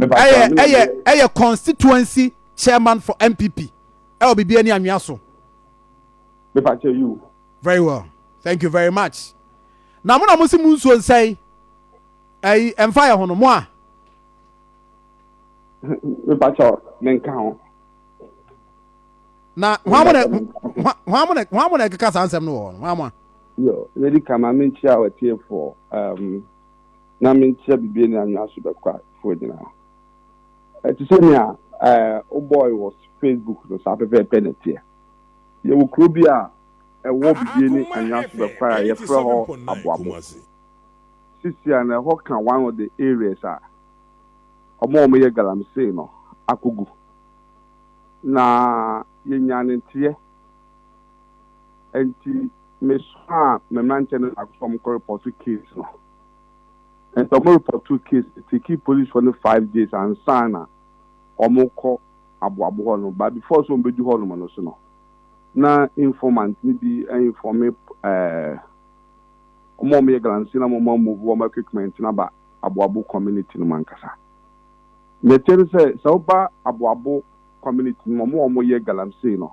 ɛyɛ ɛyɛ ɛyɛ constituency chairman for npp ɛwɔ biribi ani anwea so. mepa kyɛ you. very well thank you very much na mo na mo si mu nsuo nsɛn ɛyi ɛnfa yɛ ho no mo a. mepa kyɛ ne nka ho. na wɔn amu na wɔn amu na wɔn amu na ɛkeka saa nsɛm no wɔ hɔ no wɔn amu a. yɛ yɛ di kama mi nkyia wɔ tie fo. na menkyerɛ biribiara nni anwea so bɛkwafoɔ nyinaa. Ɛte sɛ nea wobɔɔe wɔ Facebook no, saa pɛpɛɛpɛ na ɛteɛ. Yɛwɔ kuro bi a ɛwɔ biribiara nni anwea so bɛkwae a yɛfrɛ hɔ Aboabo. Sisi a na ɛhɔ ka one of the areas a wɔn a wɔyɛ galamsey no akɔgu. Na yɛnyaa ne nteɛ. Nti me somaa me mmeranteɛ no baako sɛ wɔn kɔ repɔto case no. Nti wɔn repɔtoo case no, tekii polisifoɔ no five days ansa na wɔn kɔ aboabo hɔ nom, but before sɛ wɔn bɛdu hɔ nom no nso no, na informant no bi informe ɛɛɛ wɔn a wɔn yɛ galamsey na wɔn amove wɔn equipment no aba aboabo community nom ankasa. Nɛteɛ no sɛ, sɛ woba aboabo community nom, wɔn a wɔn yɛ galamsey no,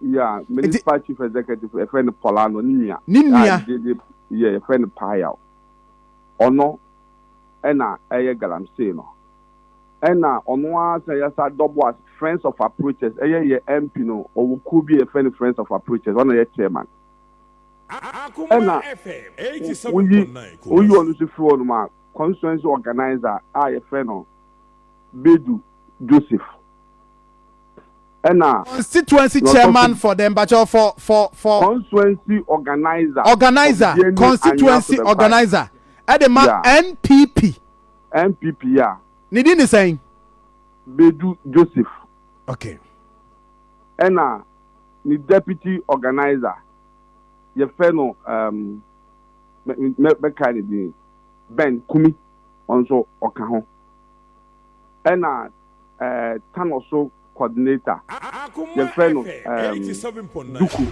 Yeah, me ne Spa chief executive, a friend Polano, ne nua. Ne nua. Yeah, a friend Payao. Ɔno, ɛna ɛyɛ galamsey no. Ɛna ɔno ara sɛ yɛsa dɔbo as friends of approaches, ɛyɛ yɛ MP no, ɔwɔ kuo bi a yɛfrɛ no friends of approaches, ɔna yɛ chairman. Ɛna woyi woyi ɔno nso firi hɔ nom a, constituency organizer a yɛfrɛ no Bedu Joseph. ɛna. Constituency chairman for the mpakyɛw for for for. Constituency organizer. Organizer constituency organizer ɛde ma NPP. NPP ya. Ne din ne sɛn. Bedu Joseph. Okay. Ɛna ne deputy organizer yɛfɛ no um, mɛka ne din Ben Kumi ɔnso ɔka ho. Ɛna ɛɛ tanɔ so kɔdinata. Yɛfrɛ no ɛɛm duku.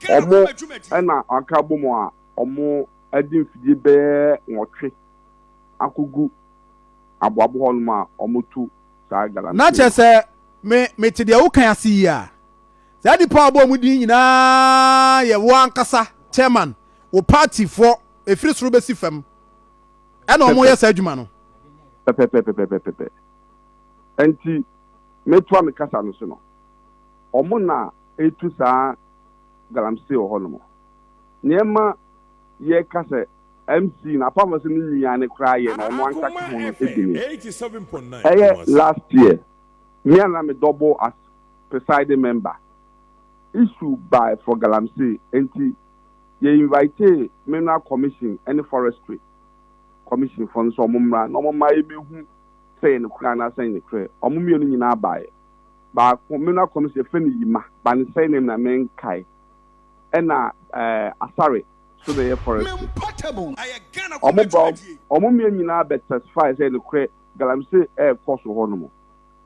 Ɔmo ɛna aka abɔ mu a ɔmo ɛde mfidie bɛyɛ nwɔtwe akɔ gu aboabo hɔ nom a ɔmo tu saa galamsey no. Kyerɛ sɛ me me te deɛ wo kan ase yi a. Saa nipa a ɔbɔ ɔmo din nyinaa yɛ wo ankasa chairman, wo party foɔ ɛfiri soro bɛsi fam. ɛna wɔn yɛ saa adwuma no. pɛpɛpɛpɛpɛpɛ nti metoa me kasa no so no wɔn na etu saa galamsey wɔ hɔ nom nneɛma yɛ ka sɛ mc na apart from sɛ ne nua ne koraa yɛ na ɔno anka ka ho no ebi ni ɛyɛ last year me a na me double as presiding member issue by for galamsey nti. Yɛ invitee Mineral Commission ne Forestry Commission foɔ no sɛ ɔmo mmra na ɔmo mma yɛ bɛhu sɛ yɛ nokorɛ anaa sɛ nyekorɛ. Ɔmo mmienu nyinaa baeɛ. Baako, Mineral Commission, yɛfrɛ no Yima, but ne surname na me nkae. Ɛna ɛɛ Asare nso na ɛyɛ Forestry. Ɔmo ba hɔ, ɔmo mmienu nyinaa bɛ testify sɛ nokorɛ Galamsey ɛɛkɔ so hɔ nom.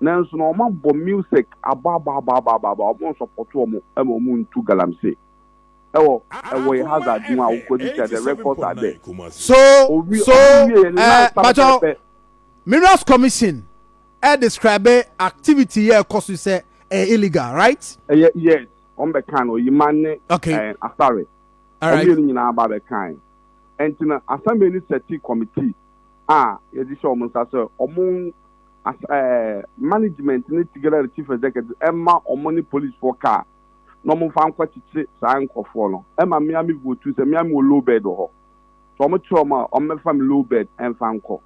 Nanso no ɔmo abɔ music, abɔ abɔ abɔ abɔ abɔ abɔ, ɔmo nsɔpɔto ɔmo ɛma ɔmo ntu Galamsey. wɔ wɔ yɛ hazard ho a wokɔdi kyɛ dɛ records are there. So so ɛɛ mpatsɔ minerals commission ɛ describe activity yɛ ɛkɔ so yi sɛ ɛyɛ illegal right. Ɛyɛ yes wɔn bɛ kan no oyima ne okay. ɛɛ asare wɔn right. mmienu nyinaa ba bɛ kan ɛnti no assembly ne sɛti committee a yɛde hyɛ wɔn nsa sɛ wɔn as ɛɛ management ne together with chief executive ɛma wɔn ne police fo kaa. na ɔmo nfa nkɔ kyekye saa nkorɔfoɔ no ɛma me ara me votu sɛ me ara me wɔ low bed wɔ hɔ nti ɔmo kyerɛ ɔmo a ɔmo bɛfa me low bed ɛnfa nkɔ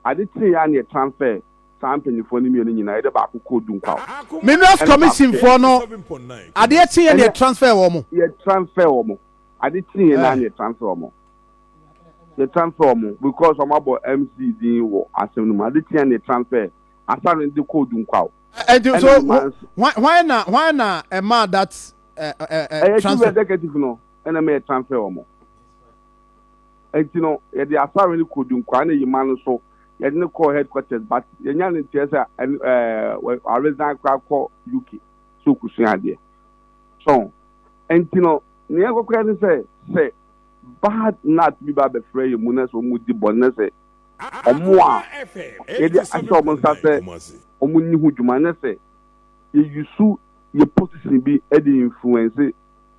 ade kyee yɛ a na yɛ transfer saa mpanyinfoɔ no mmienu nyinaa yɛde baako kɔɔ Dunkwaw Minerals ɛna baako Commission foɔ no adeɛ kyee yɛ na yɛ ɛnɛ transfer ɔmo. yɛ transfer ɔmo ade kyee yɛ na na yɛ transfer ɔmo yɛ transfer ɔmo because ɔmo abɔ MC din wɔ asɛm no mu ade kyee yɛ na yɛ transfer Asare no de kɔɔ Dunkwaw. ɛnti eh, eh, so hwan na hwan na ɛma eh, that ɛyɛ chief executive no ɛna mɛ transfer wɔn ɛnti no yɛde asɔre no kɔ dunkwaa na yima no so yɛde no kɔ headquarters but yɛnya no nkyɛn sɛ ɛɛ aresan kora kɔ uk so kusua adeɛ so ɛnti no nea ɛkɔkora ne sɛ sɛ bad nut bi ba abɛfra yɛ mu na sɛ wɔn di bɔ ne sɛ. wɔn a yɛde ahyɛ wɔn nsa sɛ wɔnni ho dwuma nyɛ sɛ yɛ use yɛ position bi de influence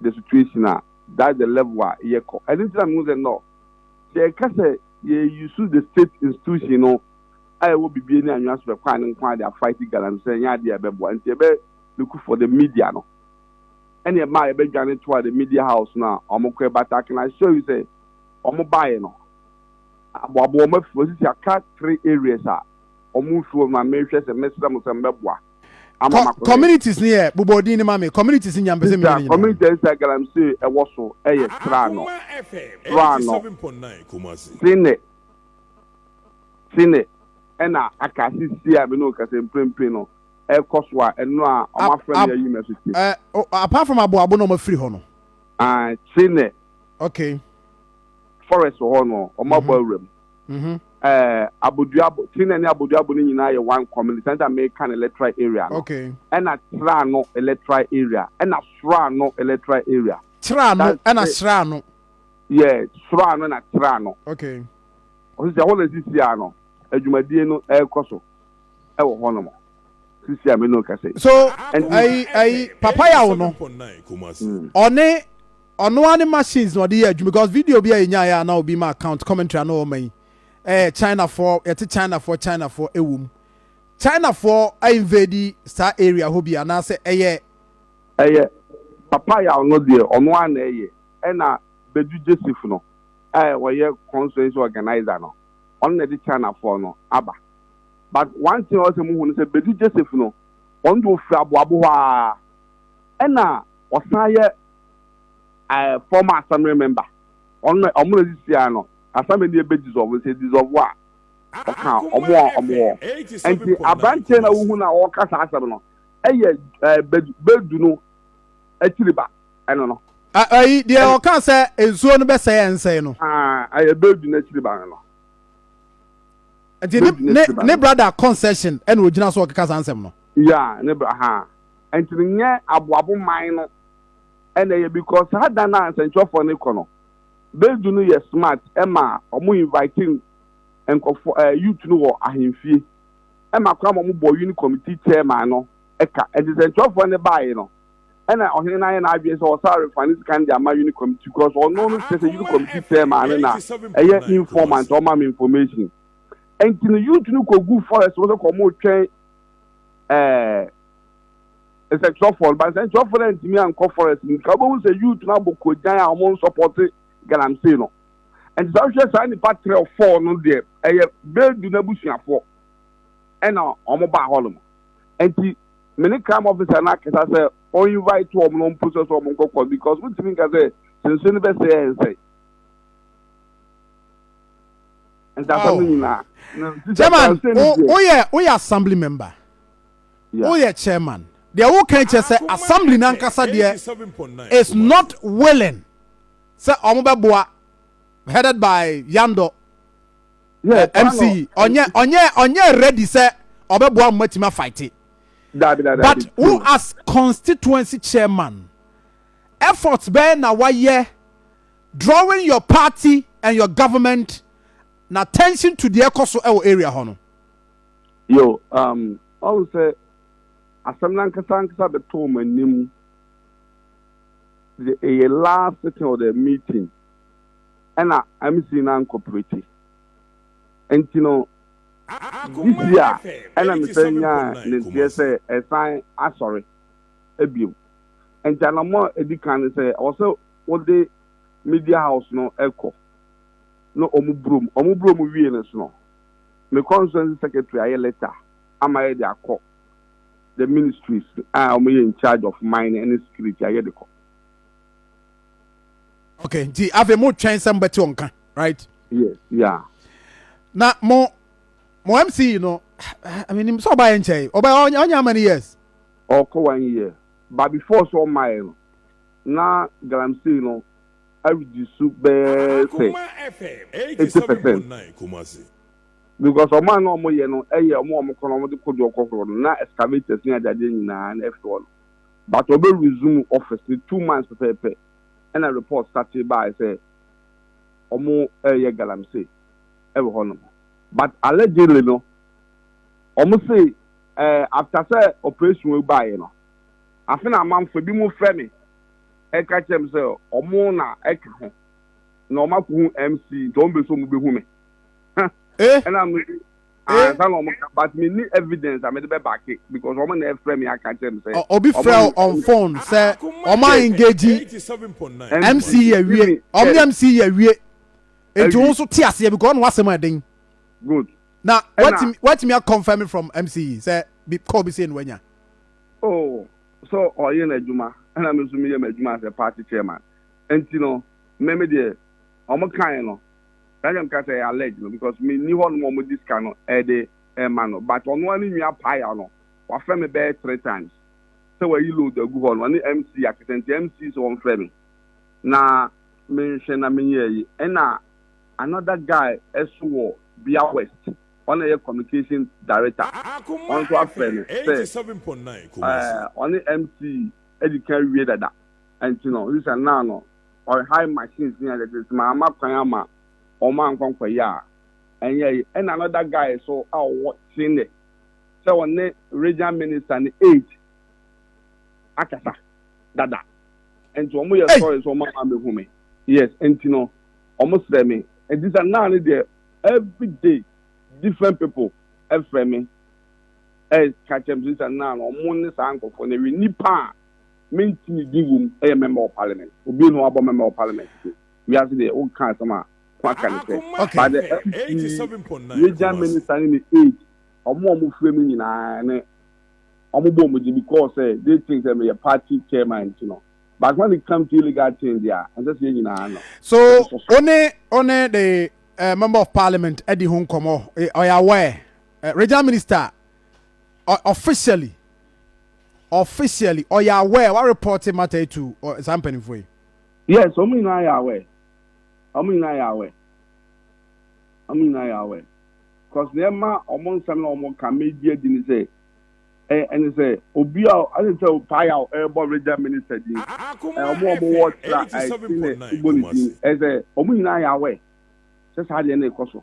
the situation a, that's the level a yɛ kɔ. Ɛno nti na mehu sɛ no, sɛ yɛ ka sɛ yɛ use the state institution no a ɛwɔ bibie ne anwea so bɛkwan no nko ara de a fight galamsey ɛnyɛ adeɛ a ɛbɛboa. Nti yɛbɛ look for the media no ɛne ɛma a yɛbɛdwane toa the media house no a wɔn kɔ ɛbata. I can assure you sɛ wɔn baeɛ no, aboaboa wɔn afi mu sisi aka three areas a wɔn nfi hɔ no a mehwɛ sɛ mɛsrɛ mo sɛ mbɛboa ama ma kɔ. Communities ne yɛ bobɔ din ne ma me communities nya mpɛ sɛ mi nyina. Community a sɛ galamsey ɛwɔ so ɛyɛ Sraano Sraano Sene Sene ɛna aka sisi a me ne okasa mprempren no ɛkɔ so a ɛno a wɔn afrɛ me ayi me ɛso ti. Apart from aboabo na wɔn afiri hɔ no. Ae Sene. Okay. forest wɔ hɔ no wɔn abɔ awura mu ɛɛ aboduabo tiri na ne aboduabo no nyinaa yɛ one community sɛnta meka no electoral area no ɛna tra no electoral area ɛna sora no electoral area tra no ɛna sra no yɛ sora no na tra no okay ɔsɛ sɛ hɔ na sisi a no adwumadie no ɛrekɔ so ɛwɔ hɔ nom sisi a mene kɛse so ɛyi ɛyi papa yaw no ɔne Ɔno ara ne machines na ɔde yɛ adwuma because video bi a yɛnyaeɛ a na obi ma account commentary a na ɔma yi ɛyɛ Chinafoɔ yɛte Chinafoɔ Chinafoɔ ɛwɔ mu Chinafoɔ a invade saa area hɔ bi anaasɛ ɛyɛ Ɛyɛ papa yaw no deɛ ɔno ara na ɛyɛ ɛna Badu Jessif no a ɔyɛ constituency organiser no ɔno na ɛde Chinafoɔ no aba but one thing a ɔsɛ mo hu no sɛ Badu Jessif no ɔno deɛ ɔfiri Aboabo hɔ ara ɛna ɔsan yɛ eh, former assembly member ɔno na ɔmo na ɛde siaa no assembly ne ɛbɛ dissolve no sɛ dissolve a ɔka ɔmo a ɔmo wɔ ɛnti aberanteɛ na wohu na ɔka saa asɛm no ɛyɛ eh, bɛdu bɛdu no akyiri ba ɛno no ayi deɛ ɔka sɛ nsuo no bɛsɛe ɛnsɛe no ah, ɛyɛ bɛdu no akyiri ba no no nti ne ne brada concession ɛna ogyina so ɔkeka saa nsɛm no ya ne bra ha ɛnti no nyɛ aboabo man no ɛna ɛyɛ because saa da no a nsɛnkyerɛfoɔ no rekɔ no Bedu no yɛ smart ɛma ɔmo invite nkɔfoɔ ɛɛ youth no wɔ ahemfie ɛma koraa ma ɔmo bɔ uni committee chairman no ɛka ɛnti nsɛnkyerɛfoɔ no baeɛ no ɛna ɔhene no ayɛ n'adwene sɛ ɔsa refa ne sika no de ama uni committee because ɔno no kyerɛ sɛ uni committee chairman no na ɛyɛ informant ɔma me information ɛnti no youth no kɔgu forest mo sɛ kɔmo twɛn ɛɛ nsɛnkyerɛfoɔ no ba nsɛnkyerɛfoɔ no antumi ankɔ forest mu nka wobɛhu sɛ youth no abɔ kogyan a wɔn nsɔpɔte galamsey no nti sɛ wohwɛ saa nnipa trɛ fɔɔ no deɛ ɛyɛ bɛɛdu no abusuafoɔ ɛna wɔn baa hɔ nom nti me ne crime officer no akasa sɛ ɔn invite wɔn no mpo sɛ sɛ wɔn nkɔkɔ because wotumi nka sɛ sɛnsuo no bɛsɛ yɛ nsɛn ntasɛm no nyinaa chairman woyɛ woyɛ assembly member woyɛ chairman deɛ woka kyerɛ sɛ assembly no ankasa deɛ is not willing sɛ ɔmo bɛboa headed by yandɔ eh, mc ɔnyɛ ɔnyɛ ɔnyɛ ready sɛ ɔbɛboa mo matumi afaite but wo as constituency chairman efforts bɛyɛ na wayɛ drawing your party and your government na attention to deɛ ɛkɔ so ɛwɔ area hɔ no. Yo, um, ɔn sɛ asɛm nankasa ankasa bɛtɔ wɔn anim de ɛyɛ last sitting or the meeting ɛna MC na nkɔprɛti nti no this year ɛna mesɛ nyaa ne nteɛ sɛ ɛsan asɔre abiem nti anamɔ edi kan ne sɛ ɔsɛ wɔde media house no kɔ na wɔn boro mu wɔn boro mu wie no so no me constituency secretary ayɛ letter ama yɛ de akɔ the ministries a wɔn yɛ in charge of mine and security ayɛ de kɔ. okay nti afei mo twɛn sɛ mo bɛ te wɔn ka right. yes yeah. na mo mo mc no ɛnim sɛ ɔba yɛ nkyɛn ɔba ɔnyɛ how many years. ɔkɔ one year but before so ɔma yɛ no. Ná galamsey no aridzi su bɛyɛ sɛ eighty percent, because ɔman no a wɔyɛ no yɛ wɔn a wɔn kɔn na wɔde kodoɔ kɔhoro no, na excavators ne adeadeɛ nyinaa na ɛfiri hɔ no. But wɔbɛ resume office no two months pɛpɛɛpɛ na report startee baae sɛ wɔreyɛ galamsey wɔ hɔnom. But allegedly no, wɔse after sɛ operation wei baaeɛ no, Afe na amanfoɔ binom frɛ me ka kyerɛ me sɛ wɔn na ɛka ho na wɔakɔhu MC nti wɔn pɛ sɛ wɔbɛhu me. Eh! Ɛna ano yi Eh! ansa na wɔka but menni evidence a mede bɛbake because wɔn na ɛfrɛ me aka kyerɛ me sɛ Ɔ- obi frɛ wɔahu on phone sɛ ɔma engage mc yi awie Even ɔmo ne yes, mc yi awie enti wo awie. nso te aseɛ because ɔno asɛm a ɛden Good. na Ɛna watumi watumi akɔnfɛm from mc yi sɛ bi call bi sei na wanya Oh sɛ ɔyɛ n'adwuma ɛna me nso meyɛ m'adwuma as a party chairman nti no me me deɛ wɔn kae no saa deɛ meka sɛ ɛyɛ allege no because me ni hɔ nom wɔn di sika no ɛde ɛma no but ɔno ani nwia paya no wafrɛ me bɛyɛ three times sɛ wayi load agu hɔ no ɔne MC akɛsɛ nti MC sɛ wɔn frɛ me na menhwɛ na menyɛ yi ɛna another guy ɛso wɔ Bia West. ɔna yɛ communication director ɔno nso afrɛ no sɛ ɛɛ ɔne MC adi kan wie dada ɛnti no ɔsi sɛ naa no ɔre high machines ni ɛdɛ de sima ama kwan ama ɔmo ankɔ nkɔ yɛ a ɛnyɛ yi ɛna another guy so a ɔwɔ Kyene sɛ ɔne regional minister ne aid akasa dada ɛnti ɔmo yɛ sɔre sɛ ɔmo ama mehu me yes ɛnti no ɔmo srɛ me ɛnti sɛ naa no deɛ. everyday different people ɛfrɛ me ɛka kyerɛ me sɛ na na ɔmo ne saa nkorɔfoɔ no ɛwɛ nipa a menti ne din wom ɛyɛ member of parliament obi na wabɔ member of parliament so wiase deɛ woka asɛm a waka ne sɛ but the mp region minister ne ne aid ɔmo a ɔmo frɛ me nyinaa ne ɔmo bɔ ɔmo gye because sɛ they think sɛ meyɛ party chairman nti no but when it comes to illegal things deɛ a ɛnsɛ sɛ yɛn nyinaa no. so one one the uh, member of parliament ɛdi ho nkɔmɔ ɔyɛ eh, aware uh, eh, regional minister uh, officially officially ɔyɛ aware wa report matter yi to uh, saa mpanimfoɔ yi. yes wɔn nyinaa yɛ aware wɔn nyinaa yɛ aware wɔn nyinaa yɛ aware cause na ɛma wɔn nsɛm na wɔn ka media di ni sɛ. ɛne sɛ obi a ɔne sɛ ɔpae a ɛrebɔ regya minister din ɔmo a ɔmo wɔ tra ɛsi na ɛbɔ ne din ɛsɛ ɔmo nyinaa yɛ aware sɛ saa deɛ no rekɔ so.